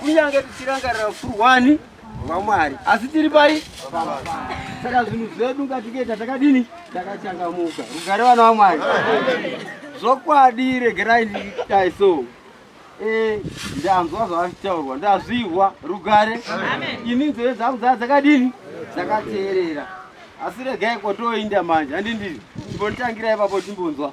kunyange tichirangarira ukurwani hwamwari asi tiri pai saka zvinhu zvedu ngatikuita takadini takachangamuka rugare vana vamwari zvokwadi regerai ndiitai so eh, ndanzwa zvavachitaurwa ndazvihwa rugare ini nzeve dzangu dzaa dzakadini dzakateerera asi regai kwatoinda manje handindii chimbotitangira ipapo chimbonzwa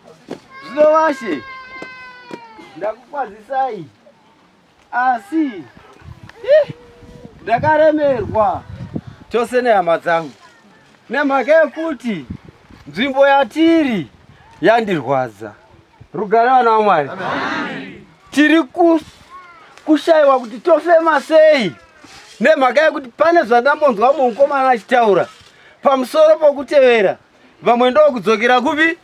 Zvino vashe, ndakukwazisai, asi ndakaremerwa chose nehama dzangu nemhaka yekuti nzvimbo yatiri yandirwadza. Rugare vana vaMwari, tiri kushaiwa kuti tofema sei nemhaka yekuti pane zvandambonzwa mukomana achitaura pamusoro pokutevera vamwe ndokudzokera kupi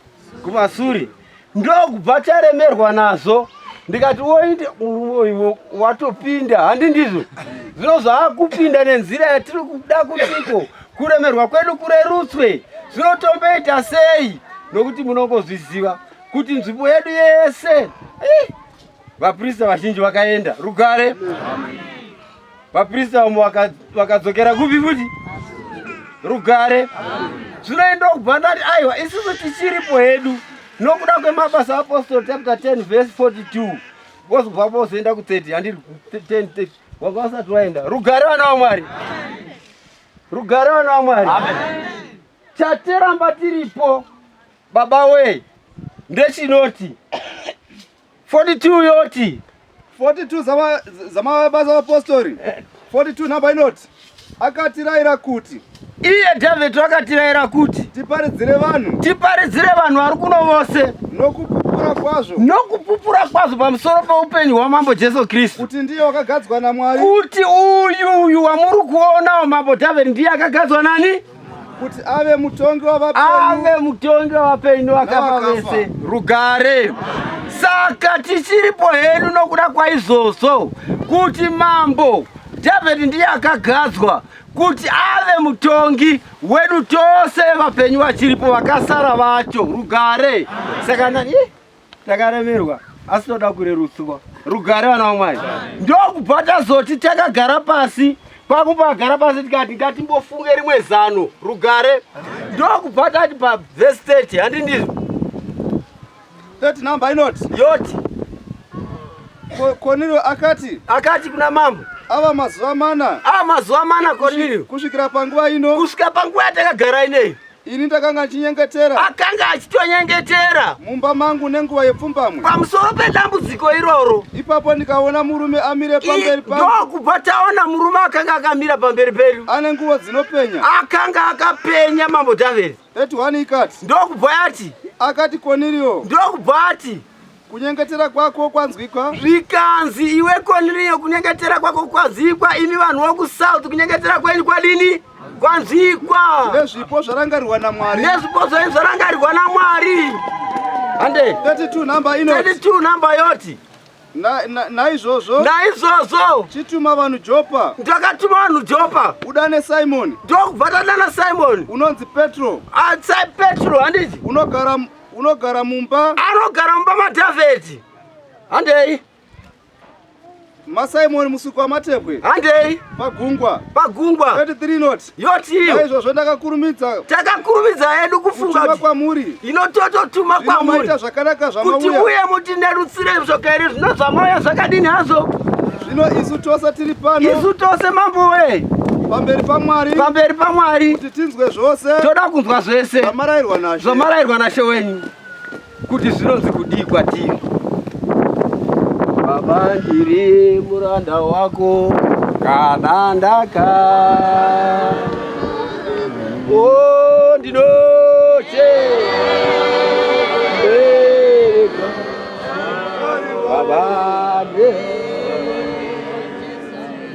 kumasuri ndokubva taremerwa nazvo ndikati woite uivo watopinda handi ndizvo zvino zvaakupinda nenzira yatiri kuda kutiko kuremerwa kwedu kurerutswe zvinotomboita sei nokuti munongozviziva kuti nzvimbo yedu yese Vaprista vazhinji vakaenda rugare. Vaprista vamwe vakadzokera kupi futi rugare. Zvinoenda kubva ndati aiwa isusu tichiripo hedu nokuda kwemabasa aapostoli chapter 10 verse 42 vozobva vozoenda ku 30 handiri 10 wanga usati waenda rugare vana vamwari rugare vana vamwari chatiramba tiripo baba wee ndechinoti 42 yoti 42 zama zama baza apostori 42 namba inoti akatiraira kuti iye David akatiraira kuti tiparidzire vanhu tiparidzire vanhu vari kuno vose nokupupura kwazvo nokupupura kwazvo pamusoro peupenyu hwamambo Jesu Kristu kuti ndiye wakagadzwa naMwari kuti uyu uyu wamuri kuonawo mambo David ndiye akagadzwa nani kuti ave mutongi wavapenyu ave mutongi wavapenyu vakafa vese rugare saka tichiripo hedu nokuda kwaizvozvo kuti mambo dhavhidhi ndiye akagadzwa kuti ave mutongi wedu tose vapenyu vachiripo vakasara vacho rugare saka nani takaremerwa asi toda kurerutswa rugare vana vamwari ndokubva tazoti takagara pasi kwakubva agara pasi tikati ngatimbofunge rimwe zano rugare ndokubva tati pavhesi 30 handi ndizvo 30 number inoti yoti kornelio akati akati kuna mambo ava mazuva mana ava mazuva mana kornelio kusvikira panguva ino kusvika panguva yatakagara ineyi Ini ndakanga ndichinyengetera. Akanga achitonyengetera. Mumba mangu nenguva yepfumbamwe. Pamusoro pedambudziko iroro. Ipapo ndikaona murume amire pamberi pangu. Ndokubva taona murume akanga akamira pamberi pedu. Ane nguvo dzinopenya. Akanga akapenya mambo Dhavhidhi. Eti wani ikati. Ndokubva yati. Akati Koniriyo. Ndokubva ati. kunyengetera kwako kwanzwikwa zvikanzi iwe koniriyo kunyengetera kwako kwazikwa imi vanhu vokusouth kunyengetera kwenyu kwadini kwanzwikwa nezvipo zvarangarirwa namwari nezvipo zvenyu zvarangarirwa namwari hande 32 namba ino 32 namba yoti naizvozvo naizvozvo chituma vanhu jopa ndakatuma vanhu jopa udane simoni ndokubva tadana simoni unonzi petro atsai petro handiti unogara Unogara mumba? Anogara mumba maDhavheti. Handei. MaSimon musiko wamatebwe. Handei. Pagungwa. Pagungwa. 33 not. Yoti. Izvozvo ndakakurumidza. Takakurumidza hedu kufunga kuti kwamuri. Inotototuma kwamuri. Inoita zvakanaka zvamauya. Kuti uye muti nerutsire zvoka iri zvino zvamauya zvakadini hazvo. Zvino isu tose tiri pano. Isu tose mambo wee. Pamberi paMwari. Pamberi paMwari. tinzwe zvose toda kunzwa zvese zvamarairwa nashe zvamarairwa nashe wenyu kuti zvinonzi kudii kwatiri baba ndiri muranda wako kana ndaka oh, ndinoche baba ndiri